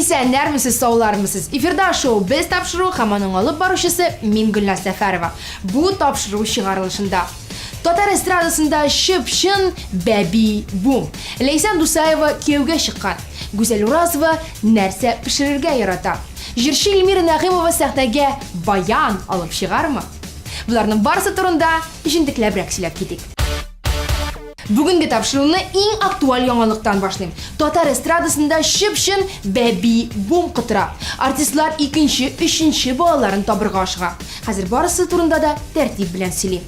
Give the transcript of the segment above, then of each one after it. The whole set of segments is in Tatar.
Исәннәрмесез, саулармысыз! Эфирда шоу Без тапшыру һәм аның алып баручысы мин Гөлназ Сәфәрова. Бу тапшыру чыгарылышында татар эстрадасында чып-чын бәби бум. Ләйсән Дусаева кияүгә чыккан. Гүзәл Уразова нәрсә пешерергә ярата? Җырчы Эльмира Нәгыймова сәхнәгә баян алып чыгармы? Боларның барысы турында җентекләбрәк сөйләп китик. Бүгенге тапшыруны иң актуаль яңалыктан башлыйм. Татар эстрадасында чып-чын бәби бум котыра. Артистлар икенче, өченче балаларын табырга ашыга. Хәзер барысы турында да тәртип белән сөйлим.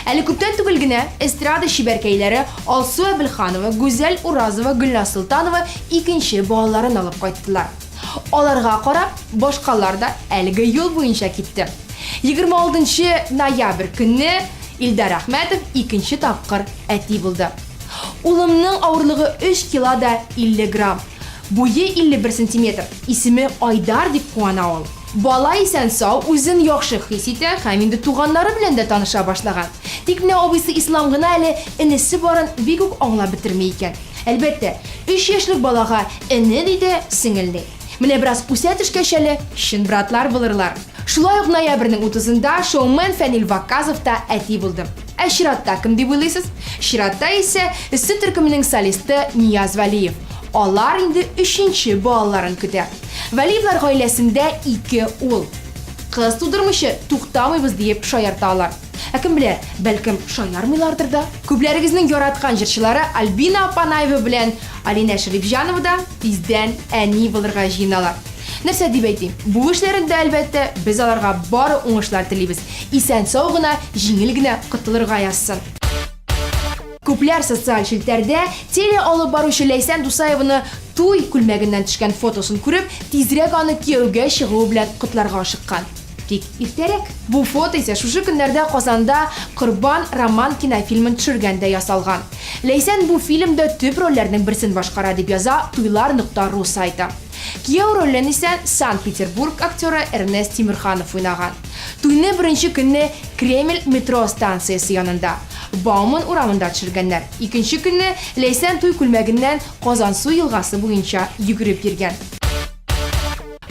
Әле күптән түгел генә эстрада чибәркәйләре Алсу Әбелханова, Гүзәл Уразова, Гөлназ Солтанова икенче балаларын алып кайттылар. Аларга карап, башкалар да әлеге юл буенча китте. Егерме алтынчы ноябрь көнне Илдар Әхмәтов икенче тапкыр әти булды. Улымның авырлыгы 3 кила да 50 грамм. Буе 51 сантиметр. Исеме Айдар дип куана ул. Бала исән-сау, үзен яхшы хис итә һәм инде туганнары белән дә таныша башлаган. Тик менә абыйсы Ислам гына әле энесе барын бик үк аңлап бетерми икән. Әлбәттә, өч яшьлек балага эне ди дә, сеңел ди. Менә бераз үсә төшкәч әле, чын братлар булырлар. Шулай ук ноябрьнең утызында шоумен Фәнил Вакказов та әти булды. Ә чиратта кем дип уйлыйсыз? Чиратта исә Эссе төркеменең солисты Нияз Вәлиев. Алар инде өченче балаларын көтә. Вәлиевлар гаиләсендә ике ул. Кыз тудырмыйча туктамыйбыз диеп шаярта алар. Ә кем белә, бәлкем, шаярмыйлардыр да? Күпләрегезнең яраткан җырчылары Альбина Апанаева белән Алинә Шәрипҗанова да тиздән әни булырга җыеналар. Нәрсә дип әйтим, бу эшләрендә, әлбәттә, без аларга бары уңышлар телибез, исән-сау гына, җиңел генә котылырга язсын. Күпләр социаль челтәрдә теле алып баручы Ләйсән Дусаеваны туй күлмәгеннән төшкән фотосын күреп, тизрәк аны кияүгә чыгуы белән котларга ашыккан. Тик иртәрәк. Бу фото исә шушы көннәрдә Казанда Корбан Роман кинофильмын төшергәндә ясалган. Ләйсән бу фильмда төп рольләрнең берсен башкара, дип яза туйлар нокта ру сайты. Кияү ролен исә Санкт-Петербург актеры Эрнест Тимерханов уйнаган. Туйны беренче көнне Кремль метро станциясе янында, Бауман урамында төшергәннәр. Икенче көнне Ләйсән туй күлмәгеннән Казансу елгасы буенча йөгереп йөргән.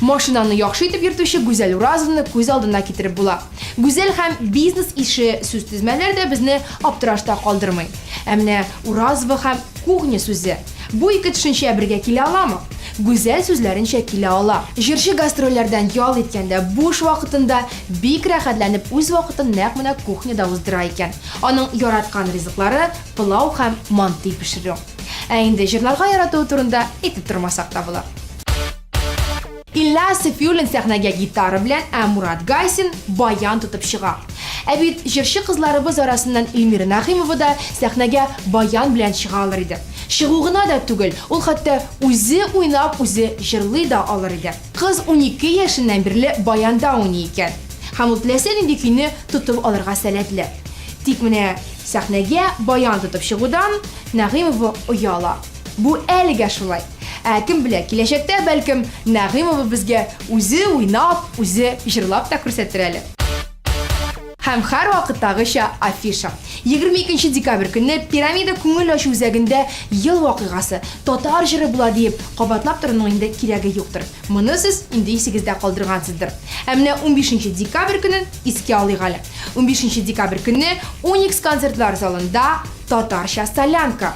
Машинаны яхшы итеп йөртүче Гүзәл Уразовны күз алдына китереп була. Гүзәл һәм бизнес ише сүз тезмәләре дә безне аптырашта калдырмый. Ә менә Уразова һәм кухня сүзе, бу ике төшенчә бергә килә аламы? Гүзәл сүзләренчә килә ала. Җырчы гастрольләрдән ял иткәндә, буш вакытында бик рәхәтләнеп үз вакытын нәкъ менә кухняда уздыра икән. Аның яраткан ризыклары, пылау һәм манты пешерү. Ә инде җырларга яратуы турында әйтеп тормасак та була. Илья Сафиуллин сәхнәгә гитара белән, ә Мурат Гайсин баян тотып чыга. Ә бит җырчы кызларыбыз арасыннан Ильмира Нәгыймова да сәхнәгә баян белән чыга алыр иде. Чыгу гына да түгел, ул хәтта үзе уйнап, үзе җырлый да алыр иде. Кыз унике яшеннән бирле баянда уйный икән һәм ул теләсә нинди көйне тотып алырга сәләтле. Тик менә сәхнәгә баян тотып чыгудан Нәгыймова ояла. Бу әлегә шулай. Ә кем белә, киләчәктә, бәлкем, Нәгыймова безгә үзе уйнап, үзе җырлап та күрсәтер әле. Һәм һәрвакыттагыча афиша. Егерме икенче декабрь көнне Пирамида күңел ачу үзәгендә ел вакыйгасы, татар җыры була диеп, кабатлап торуның инде кирәге юктыр. Моны сез инде исегездә калдыргансыздыр. Ә менә унбишенче декабрь көнен искә алыйк әле. Унбишенче декабрь көнне Уникс концертлар залында татарча солянка.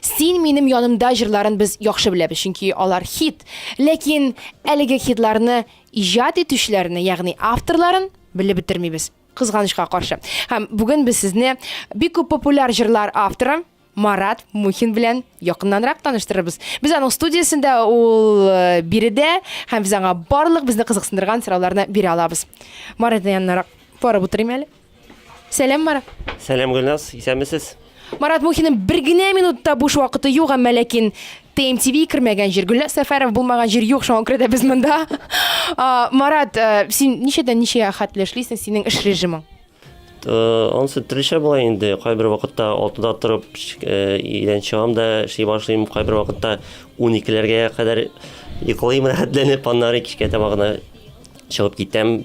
Син минем янымда җырларын без яхшы беләбез, чөнки алар хит. Ләкин әлеге хитларны иҗат итүчеләрне, ягъни авторларын белеп бетермибез, кызганычка каршы. Һәм бүген без сезне бик күп популяр җырлар авторы Марат Мухин белән якыннанрак таныштырырбыз. Без аның студиясендә, ул э, биредә, һәм без аңа барлык безне кызыксындырган сорауларны бирә алабыз. Маратның янынарак барып утырыйм әле. Сәлам, Марат. Сәлам, Гөлназ. Исәнмесез? Марат Мухинның бер генә минутта буш вакыты юк, әмма ләкин ТМТВ кермәгән җир, Гөлназ Сәфәров булмаган җир юк, шуңа күрә дә без монда. Марат, э, син ничәдән ничәгә хәтле эшлисең, синең эш режимың? Э, ансы төрлечә була инде. Кайбер вакытта 6-да торып, э, идән чыгам да эшли башлыйм, кайбер вакытта 12-ләргә кадәр йоклыйм рәхәтләнеп, аннары кичкә таба гына чыгып китәм.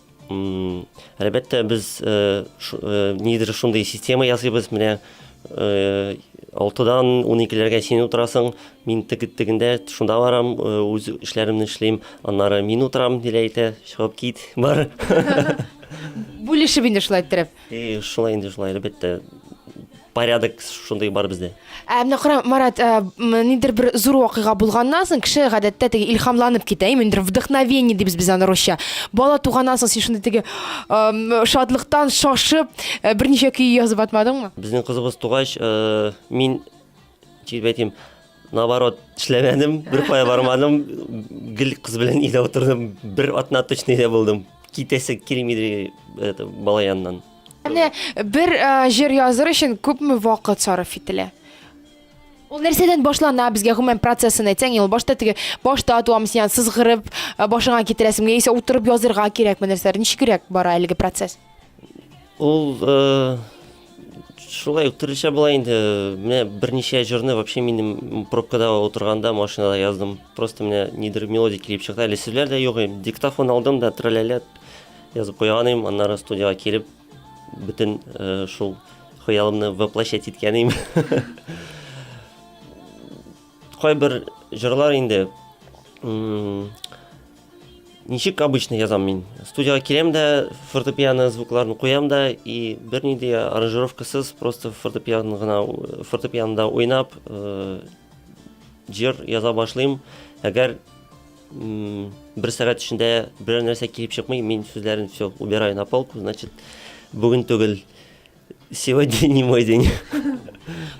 Әлбәттә, без нидер шундый система ясыйбыз, менә 6-дан 12-ләргә син утырасың, мин тегендә шунда барам, үз эшләремне эшлим, аннары мин утырам, диләйтә, чыгып кит, бар. Бүлешеп инде шулай иттереп. И шулай инде шулай, әлбәттә. Порядок шундый бар бездә. Ә менә кара, Марат, ә, м, нидер бер зур вакыйга булганнан соң кеше гадәттә теге илһамланып китә, әйме, нидер вдохновение дибез без аны русча. Бала туганнан соң син шундый теге ам, шатлыктан шашып, ә, берничә көй язып атмадыңмы? Безнең кызыбыз тугач, э, мин Дип әйтим, наоборот, эшләмәдем, бер кая бармадым, гел кыз белән өйдә утырдым, бер атна точно өйдә булдым. Китәсе килмиде это бала яныннан. Менә бер э, җыр языр өчен күпме вакыт сарыф ителә? Ул нәрсәдән башлана безгә гомумән процессын әйтсәң, ел башта теге башта атуам сиан сызгырып э, башыңа китерәсең яисә утырып язырга кирәкме нәрсәләр? Ничегрәк бара әлеге процесс? Ул шулай ук төрлечә була инде. Менә берничә җырны вообще минем пробкада утырганда машинада яздым. Просто менә нидер мелодия килеп чыкты. Әле сүзләр дә юк. Диктофон алдым да трәләләп язып куйган идем. Аннары студиягә килеп бөтен э, шул хыялымны воплощать иткән идем. Кайбер җырлар инде ничек обычно язам мин. Студияга киләм дә, фортепиано звукларын куям да и бернинди аранжировкасыз просто фортепиано гына фортепианода уйнап э, җыр яза башлыйм. Әгәр бер сәгать эчендә берәр нәрсә килеп чыкмый, мин сүзләрен все убираю на полку, значит, бүген түгел. Сегодня не мой день.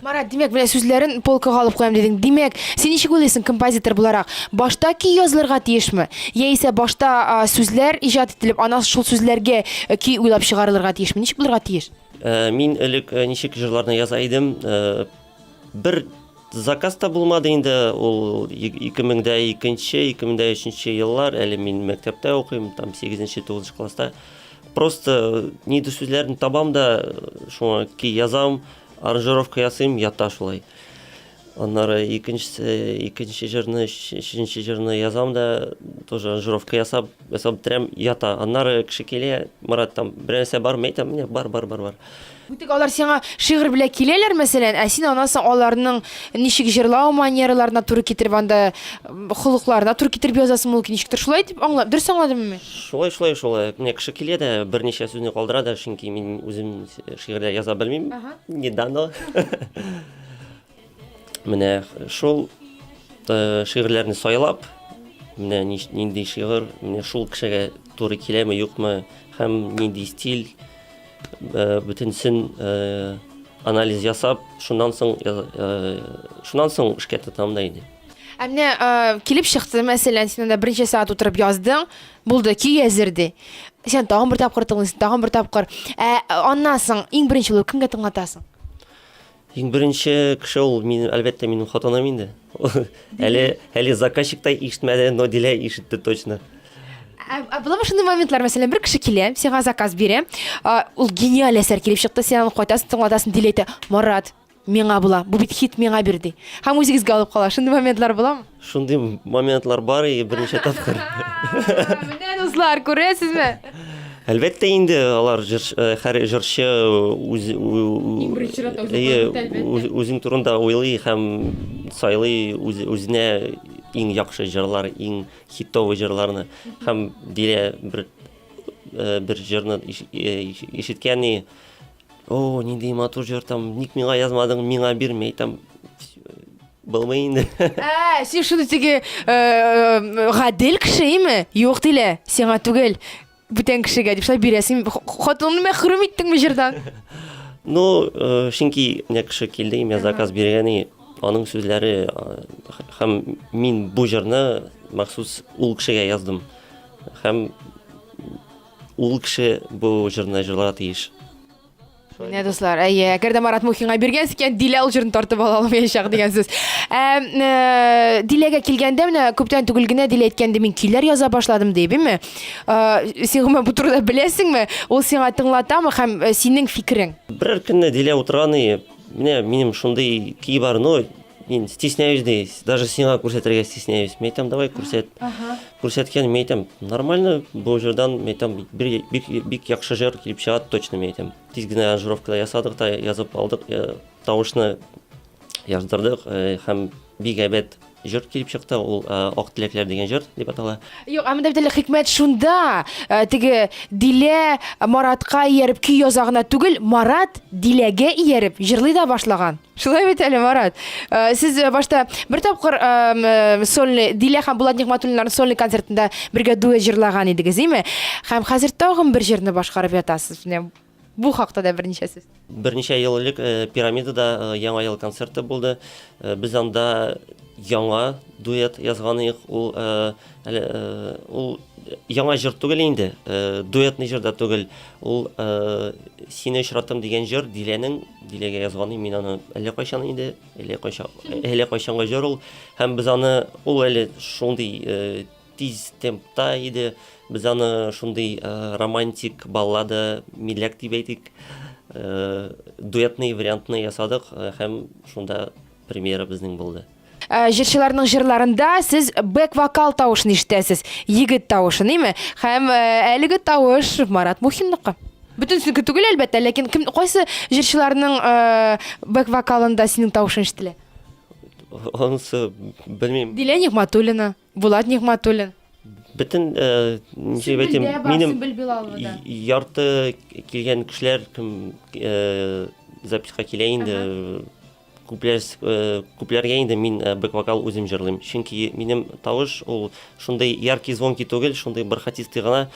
Марат, димәк, менә сүзләрен полкага алып куям дидең. Димәк, син ничек уйлыйсың композитор буларак? Башта көй язылырга тиешме? Яисә башта сүзләр иҗат ителеп, аннан шул сүзләргә э, көй уйлап чыгарылырга тиешме? Ничек булырга тиеш? Э, мин элек э, ничек җырларны яза идем, Бер заказ та булмады инде ул 2002-2003 еллар әле мин мәктәптә укыйм там 8-9 класста просто ни ди сүзләрен табам да шуңа ки язам аранжировка ясыйм ята шулай аннары икенчесе икенче җырны өченче җырны язам да тоже аранжировка ясап ясап бетерәм ята аннары кеше килә марат там берәрсә бармы әйтәм менә бар бар бар бар Бу тик алар сиңа шигырь белән киләләр, мәсәлән, ә син анасы аларның ничек җырлау манераларына туры китереп анда холыкларына туры китереп язасың мул ничектер шулай дип аңла, дөрес аңладыммы мин? Шулай, шулай, шулай. Менә кеше килә дә берничә сүзне калдыра да, чөнки мин үзем шигырьләр яза белмим. Не дано. Менә шул э, шигырьләрне сайлап, менә нинди шигырь, менә шул кешегә туры киләме, юкмы, һәм нинди стиль, э, бөтенсен э, анализ ясап, шуннан соң шуннан соң эшкә тотам да инде. Ә менә килеп чыкты, мәсәлән, син анда беренче сәгать утырып яздың, булды, көй әзер ди. Сен тагын бер тапкыр тыңлыйсың, тагын бер тапкыр. Ә аннан соң иң беренче булып кемгә тыңлатасың? Иң беренче кеше ул мин, әлбәттә, минем хатыным инде. Әле әле заказчик та ишетмәде, но Дилә ишетте точно. Ә, ә буламы шундый моментлар, мәсәлән, бер кеше килә, сиңа заказ бирә, а, ул гениаль әсәр килеп чыкты, син аны кайтасың, тыңлатасың, Дилә әйтә, Марат, миңа була, бу бит хит, миңа бир, ди. Һәм үзегезгә алып кала. Шундый моментлар буламы? Шундый моментлар бар и берничә тапкыр. Менә дуслар, күрәсезме? Әлбәттә инде алар җырчы, э, һәр җырчы үз үзен турында уйлый һәм сайлый үзенә иң яхшы җырлар, иң хитовый җырларны һәм дилә бер э, бер җырны э, ишеткән и О, нинди матур җыр там, ник миңа язмадың, миңа бирмәй там. Булмый инде. Ә, син шуны теге э, э, гадел кеше име? Юк дилә, сиңа түгел. Бүтән кешегә дип шулай бирәсең. Х- Хатыныңны мәхрүм иттеңме җырдан? Ну, э, чөнки менә кеше килде, имя заказ биргән и аның сүзләре э, х- һәм мин бу җырны махсус ул кешегә яздым. Һәм Ул кеше бу җырны җырларга тиеш. Менә дуслар, әйе, әгәр дә Марат Мухинга биргәнсез икән, Дилә ул җырны тартып ала алмаячак дигән сүз. Ә, э, Диләгә килгәндә менә күптән түгел генә Дилә әйткән ди, мин көйләр яза башладым дип, име? Э, син гомумән бу турыда беләсеңме? Ул сиңа тыңлатамы һәм э, синең фикерең? Берәр көнне Дилә утырган и, Менә минем шундый көй бар, но мин стесняюсь ди, даже сиңа күрсәтергә стесняюсь. Мин әйтәм, давай күрсәт. Ага. Күрсәткән мин әйтәм, нормально бу җырдан, мин әйтәм, бик, бик, бик яхшы җыр килеп чыга, точно мин әйтәм. Тиз генә аранжировкада ясадык та, язып алдык, э, тавышны яздырдык э, һәм бик әйбәт Җыр килеп чыкты, ул Ак теләкләр дигән җыр дип атала. Юк, ә монда бит әле хикмәт шунда, теге Дилә Маратка ияреп көй яза гына түгел, Марат Диләгә ияреп җырлый да башлаган. Шулай бит әле, Марат. Сез башта бер тапкыр сольный Дилә һәм Булат Нигъмәтуллиннарның сольный концертында бергә дуэт җырлаган идегез, име? Һәм хәзер тагын бер җырны башкарып ятасыз. Бу хакта да берничә сүз. Берничә ел элек э, пирамидада э, яңа ел концерты булды. Э, без анда яңа дуэт язган идек. Ул ул яңа җыр түгел инде. Дуэтный җыр да түгел. Ул Сине очратам дигән җыр Диләнең Диләгә язганы. Мин аны әллә кайчан инде, әллә кайчан, әллә кайчанга җыр ул. Һәм без аны ул әле шундый Тиз темпта иде. Без аны шундый романтик баллада миләк дип әйтик, дуэтный вариантны ясадык һәм шунда премьера безнең булды. Ә, җырчыларның җырларында сез бэк вокал тавышын ишетәсез, егет тавышы, ниме? Һәм э, әлеге тавыш Марат Мухинныкы. Бөтенсенеке түгел, әлбәттә, ләкин кем кайсы җырчыларның э, бэк вокалында синең тавышың ишетелә? Онсы, белмим. Дилә Нигматуллина. Булат Нигматуллин. Бөтен э, ничек әйтим, минем ярты килгән кешеләр кем э, записка килә инде. Күпләр э, күпләргә инде мин бэк вокал үзем җырлыйм. Чөнки минем тавыш ул шундый яркий звонки түгел, шундый бархатистый гына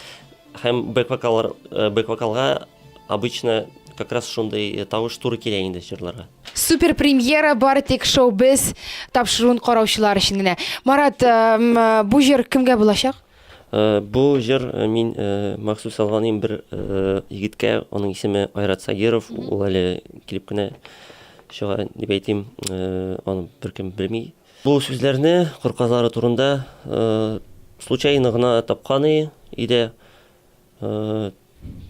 Һәм бэк-вокаллар, э, бэк-вокалга обычно как раз шундый э, тавыш туры килә инде җырларга. Супер премьера бар тик шоу без тапшыруын караучылар өчен генә. Марат, эм, э, бу җыр кемгә булачак? Э, Бу җыр э, мин э, махсус алганым бер э, егеткә, аның исеме Айрат Сагиров, ул әле килеп кенә чыга дип әйтим, э, аны беркем белми. Бу сүзләрне кыр казлары турында случайно гына тапкан иде.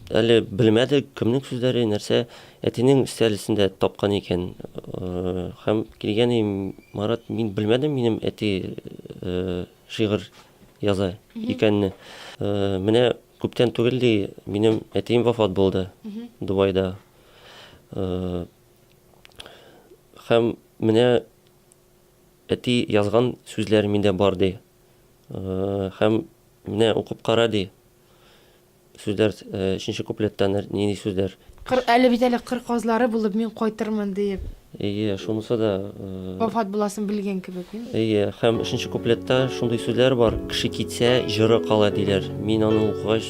Әле белмәдек, кемнең сүзләре, нәрсә, әтинең өстәл өстендә тапкан икән. Һәм килгән иде Марат, мин белмәдем, минем әти шигырь яза икәнне. Менә күптән түгел ди, минем әтием вафат булды Дубайда. Һәм менә Әти язган сүзләр миндә бар, ди. Һәм менә укып кара, ди. Сүзләр, өченче куплетта нинди сүзләр? Кыр, әле бит әле кыр казлары булып мин кайтырмын, диеп. Әйе, шунысы да. Вафат буласын белгән кебек, ди. Әйе, һәм өченче куплетта шундый сүзләр бар, Кеше китсә, җыры кала, диләр. Мин аны укыгач.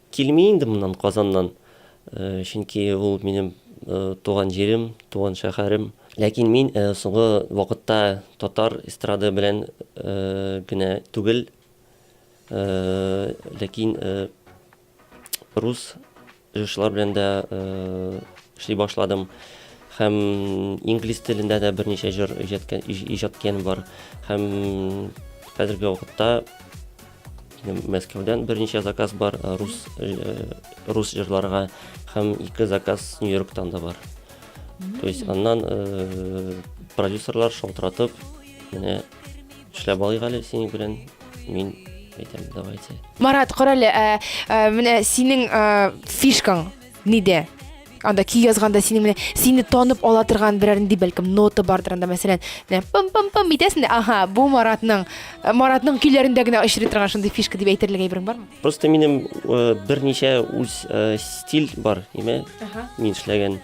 Килми инде моннан Казаннан, чөнки ул минем туган җирем, туган шәһәрем. Ләкин мин соңгы вакытта татар эстрады белән генә түгел, ләкин рус җырчылар белән дә эшли башладым һәм инглиз телендә дә берничә җыр иҗат иткәнем бар һәм хәзерге вакытта Мәскәүдән берничә заказ бар э, рус э, рус җырларга һәм ике заказ Нью-Йорктан да бар. То есть аннан э, продюсерлар шалтыратып, менә эшләп алыйк әле синең белән. Мин әйтәм, давайте. Марат, карале, ә, ә, менә синең ә, фишкаң Ниде? Анда ки язганда сине менә сине танып ала торган берәр нинди бәлкем нота бардыр анда мәсәлән, менә пым пым пым итәсең дә, ага, бу Маратның э, Маратның көйләрендә генә очрый торган шундый фишка дип әйтерлек әйберең бармы? Просто минем э, берничә үз э, стиль бар, име? Ага. Мин эшләгән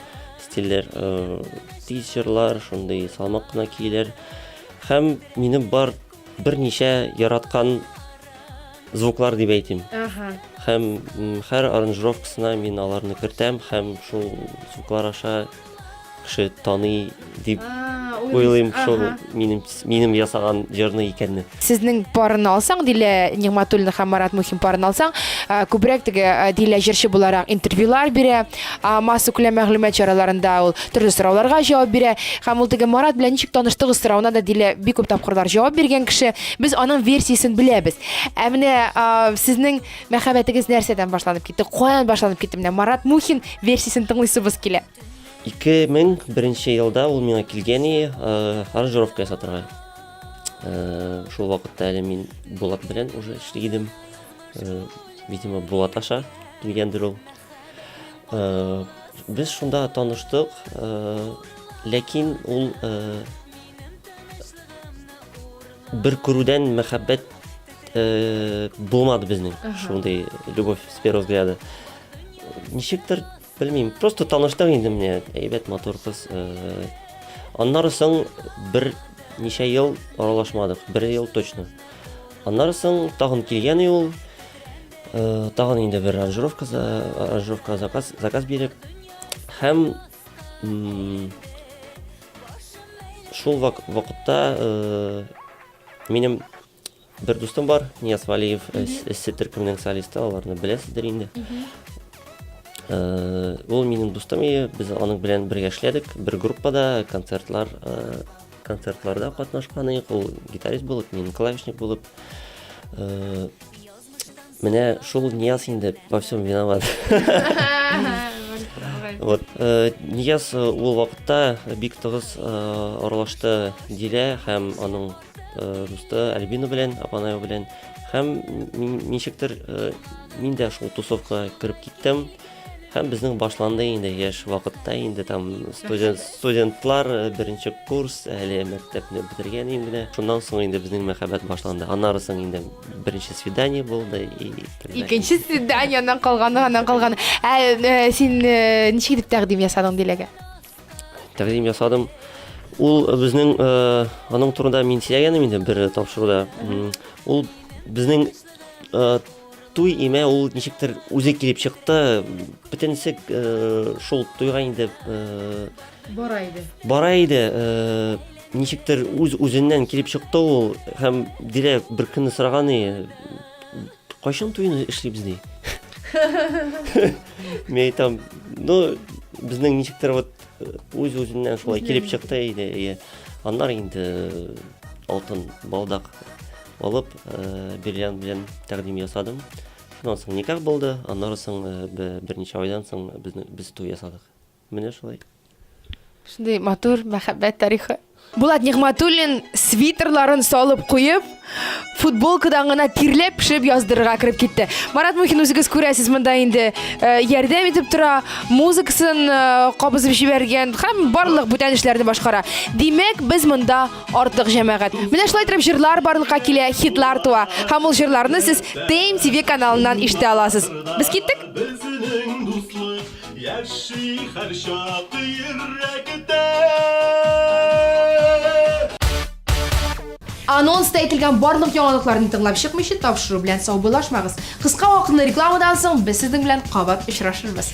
стильләр, тизерлар, шундый салмак кына килер. Һәм минем бар Берничә яраткан звуклар дип әйтим. Ага. Һәм һәр аранжировкасына мин аларны кертәм һәм шул звуклар аша кеше таный дип уйлыйм шул минем минем ясаган җырны икәнне. Сезнең парны алсаң, Дилә Нигматуллина һәм Марат Мухин парны алсаң, күбрәк теге Дилә җырчы буларак интервьюлар бирә, Массакүләм мәгълүмат чараларында ул төрле сорауларга җавап бирә. Һәм ул теге Марат белән ничек таныштыгыз соравына да Дилә бик күп тапкырлар җавап биргән кеше. Без аның версиясен беләбез. Ә менә сезнең мәхәббәтегез нәрсәдән башланып китте? Каян башланып китте? Менә Марат Мухин версиясен тыңлыйсыбыз килә. 2001 елда ул миңа килгән и аранжировка ясатырга. Шул вакытта әле мин Булат белән уже эшли идем. Видимо, Булат аша килгәндер ул. Э, без шунда таныштык, э, ләкин ул э, бер күрүдән мәхәббәт булмады безнең шундый любовь с первого взгляда. Ничектер, белмим, просто таныштык инде менә, әйбәт матур кыз. Аннары соң бер ничә ел аралашмадык, бер ел точно. Аннары соң тагын килгән и ул. Э, тагын инде бер аранжировка, аранжировка заказ, заказ биреп. Һәм шул вак, вакытта э, минем бер дустым бар, Нияз Валиев, эссе төркемнең солисты, аларны беләсездер инде. Э, ул минем дустым, и без аның белән бергә эшләдек, бер группада концертлар э, концертларда катнашканыйк ул гитарист булып мин клавишник булып э, менә шул нияз инде во всем виноват вот э, нияз э, ул вакытта бик тыгыз аралашты дилә һәм аның дусты альбина белән апанаю белән һәм ничектер мин дә шул тусовкага кереп киттем Һәм безнең башланды инде яшь вакытта инде там студент студентлар э, беренче курс әле мәктәпне бетергән инде. Шуннан соң инде безнең мәхәббәт башланды. Аннары соң инде беренче свидание булды и Икенче свиданияннан калганы аннан калганы. Ә э, син э, ничек итеп тәкъдим ясадың Диләгә? Тәкъдим ясадым. Ул безнең аның турында мин сөйләгәнем инде бер тапшыруда. Ул безнең Туй имә ул ничектер үзе килеп чыкты. Бөтенесе э, шул туйга инде э, бара иде. Бара иде. Э, ничектер үз үзеннән килеп чыкты ул һәм Дилә бер көнне сораган и кайчан туйны эшлибез ди. Мен айтам, ну безнең ничектер вот үз үзеннән шулай килеп чыкты иде. Аннар инде алтын балдак алып, Бирҗан белән тәкъдим ясадым. Шуннан соң никах булды, аннары соң берничә айдан соң без туй ясадык. Менә шулай. Шундый матур мәхәббәт тарихы. Булат Нигъмәтуллин свитерларын салып куеп, футболкадан гына тирләп пешеп яздырырга кереп китте. Марат Мухин үзегез күрәсез монда инде э, ярдәм итеп тора, музыкасын э, кабызып җибәргән һәм барлык бүтән эшләрне башкара. Димәк, без монда Артык җәмәгать. Менә шулай итеп җырлар барлыкка килә, хитлар туа. Һәм ул җырларны сез Тейм ТВ каналыннан ишетә аласыз. Без киттек. Безнең дуслык яши һәр чак йөрәктә. Анонста әйтелгән барлык яңалыкларны тыңлап чыкмыйча тапшыру белән саубуллашмагыз. Кыска вакытлы рекламадан соң без сезнең белән кабат очрашырбыз.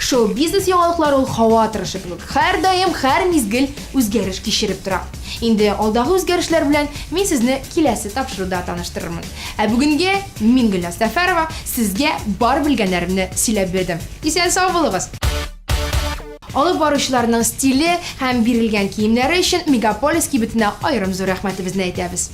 Шоу-бизнес яңалыклары ул һава торышы кебек, һәрдаим, һәр мизгел үзгәреш кичереп тора. Инде алдагы үзгәрешләр белән мин сезне киләсе тапшыруда таныштырырмын. Ә бүгенге мин, Гөлназ Сәфәрова, сезгә бар белгәннәремне сөйләп бирдем. Исән-сау булыгыз! Алып баручыларның стиле һәм бирелгән киемнәре өчен Мегаполис кибетенә аерым зур рәхмәтебезне әйтәбез.